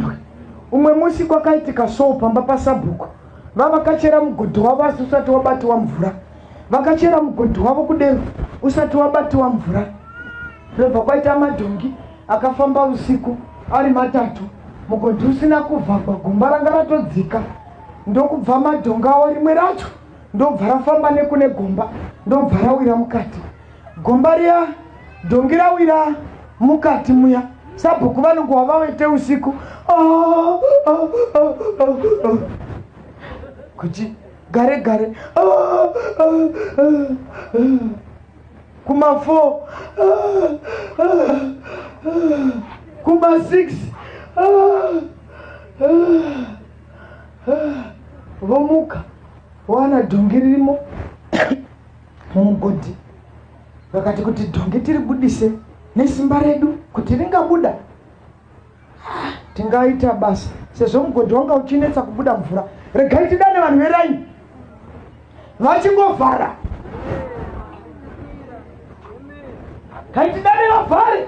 muZimbabwe. Umwe musi kwakaitika soo pamba pasabhuku vavakachera mugodhi wavo asi usati wabatiwa mvura. Vakachera mugodhi wavo kudero usati wabatiwa mvura. Zvobva kwaita madhongi akafamba usiku ari matatu mugodhi usina kuvhagwa gomba ranga ratodzika ndokubva madhongawo rimwe racho ndobva rafamba nekune gomba ndobva rawira mukati Gomba riya dhongi rawira mukati muya sabhuku vanongohwa vawete usiku ah, ah, ah, kuti gare gare kuma four kuma six vomuka wana dhongi ririmo mumugodhi vakati kuti dhongi tiribudise nesimba redu kuti ringabuda ah, tingaita basa sezvo mugodhi wanga uchinetsa kubuda mvura regai tidane vanhu veraini vachingovhara kaitidane vavhare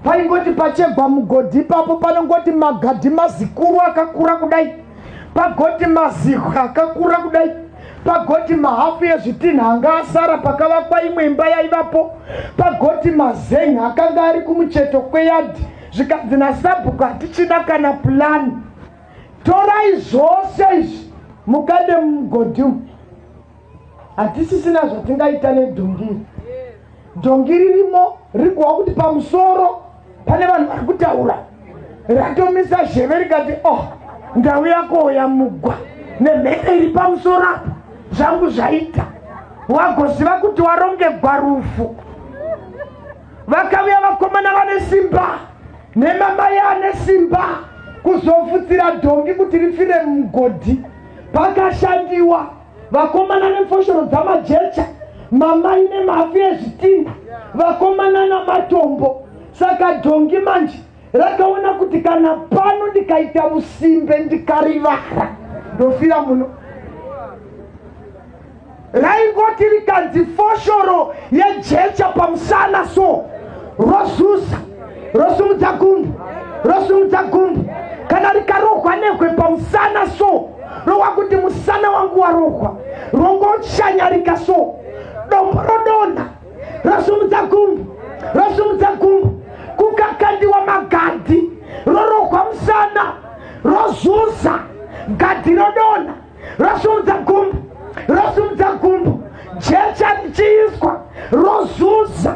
paingoti pachegwa mugodhi ipapo panongoti magadhi mazikuru akakura kudai pagoti mazihwa akakura kudai pagoti mahafu ezvitinha anga asara pakavakwa imwe imba yaivapo pagoti mazenha akanga ari kumucheto kweyadhi zvikanzi nasabhuku hatichina kana pulani torai zvose izvi mukade mumugodhi umu hatisisina zvatingaita nedhongiri dhongi ririmo rikuwa kuti pamusoro pane vanhu vari kutaura ratomisa zheve rikati o oh, ndau yako yamugwa nemhepo iri pamusoro apo zvangu zvaita wagoziva kuti warongegwa rufu vakavuya vakomana vane simba nemamai ane simba kuzofutsira dhongi kuti rifire mugodhi pakashandiwa vakomana nemfoshoro dzamajecha mamai nemafi ezvitinda vakomana namatombo saka dhongi manje rakaona kuti kana pano ndikaita musimbe ndikarivara ndofira muno raingoti rikanzi foshoro yejecha pamusana so rozuza rosumudza gumbu rosumudza gumbu kana rikarohwa nehwe pamusana so rowa kuti musana wangu warohwa rongochanyarika so dombo rodonha rosumudza gumbu rosumudza gumbu kukakandiwa magadhi rorohwa musana rozuza gadhi rodonha rosumudza gumbu rosumudza gumbu jecha richiiswa rozuza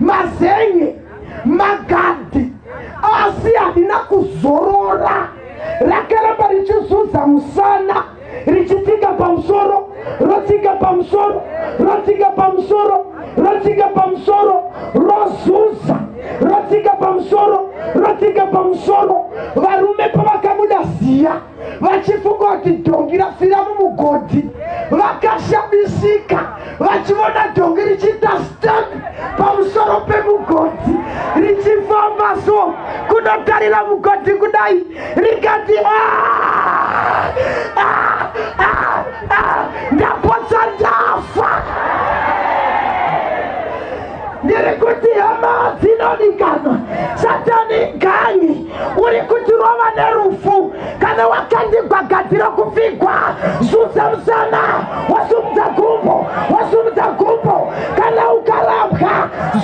mazenye magadhi asi handina kuzorora rakaramba richizuza musana richitsika pamusoro rotsika pamusoro rotsika pamusoro rotsika pamusoro rozuza rotsika pamusoro rotsika pamusoro varume pavakabuda ziya vachifunga kuti dhongi rafira mumugodhi vakashamisika vachivona dhongi richiita stan pamusoro pemugodhi richifamba so kunotarira mugodhi kudai rikati ah, ah, ah, ndapotsa ndafa ndiri kuti hama dzinodikanwa satani gangi uri kuti rova nerufu kana wakandigwa gadzira kupfigwa zudza musana wasumudza gumbo wasumudza gumbo kana ukarambwa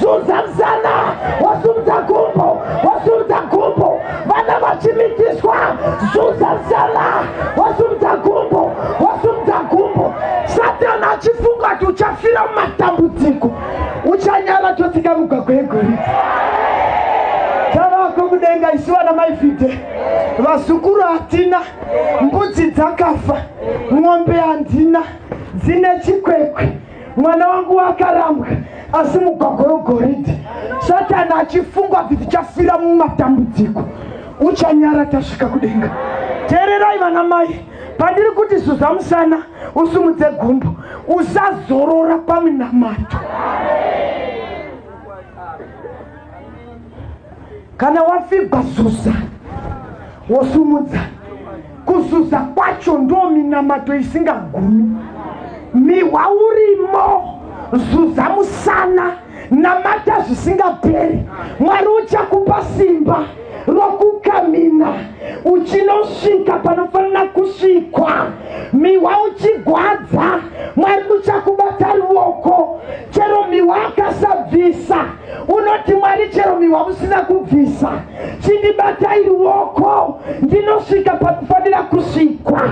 zudza musana wasumudza gumbo wasumudza gumbo vana vachimitiswa zuza zala wasumudza gumbo wasumudza gumbo satani achifunga kuti uchafira mumatambudziko uchanyara totsika mugwagwa yegoridhe tavako kudenga isu vana maifide vazukuru hatina mbudzi dzakafa ng'ombe handina dzine chikwekwe mwana wangu wakarambwa asi mugwagwa wegoridhe satani achifungwa kuti tichafira mumatambudziko uchanyara tasvika kudenga teererai vana mai pandiri kuti zuza musana usumudze gumbo usazorora pamunamato kana wafigwa zuza wosumudza kuzuza kwacho ndo minamato isingagumi mihwa urimo zuza musana namata zvisingaperi mwari uchakupa simba rokukamina uchinosvika panofanira kusvikwa mihwa uchigwadza mwari uchakubata ruoko chero mihwa akasabvisa unoti mwari chero mihwa musina kubvisa chindibatai ruoko ndinosvika pakufanira kusvikwa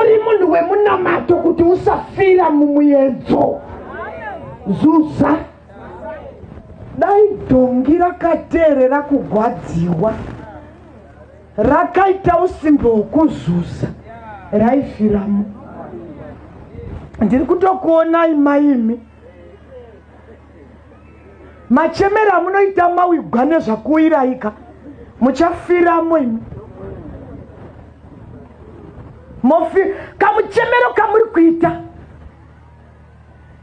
uri munhu wemunamato kuti usafira mumuyedzo zuza dai dhongi rakateerera kugwadziwa rakaita usimbe hwekuzuza raifiramo ndiri kutokuonai maimi machemera amunoita mawigwa nezvakuiraika muchafiramo imi mofi kamuchemero kamuri kuita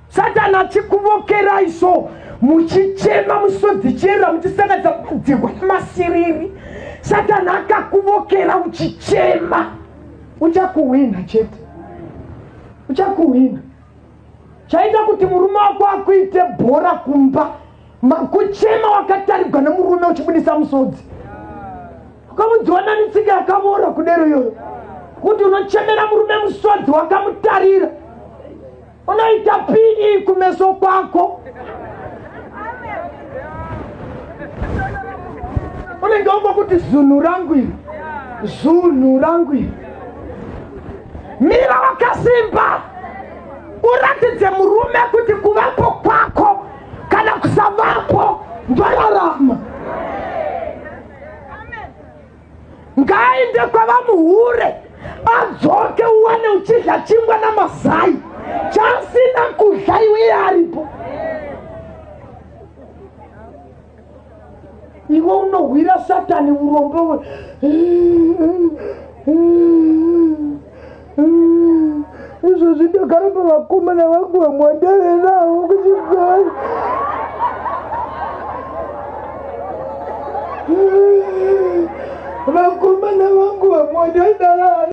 satani achikuvokerai so muchichema musodzi chera muchisangadza kudzihwa nemasiriri satani akakuvokera uchichema uchakuhwina chete uchakuhwina chaita kuti murume wako akuite bhora kumba Kuchema wakatarigwa nemurume uchibudisa musodzi. Ukamudziwa nani tsika yakavora kudero iyoyo. Kuti unochemera murume musodzi wakamutarira. Unoita pii kumeso kwako. Unenge wambo kuti zunhu rangu iri. Zunhu rangu iri. Mira wakasimba. Uratidze murume kuti kuvapo kwako. kana kusavapo ndararama ngaaende kwavamuhure adzoke uwane uchidya chingwa namazai chasina kudya iwe yaaripo iwe unohwira satani urombe we izvozvi ndogara pavakomana vangu vamwandave navo kuchibhai vakomana vangu vamwandave navo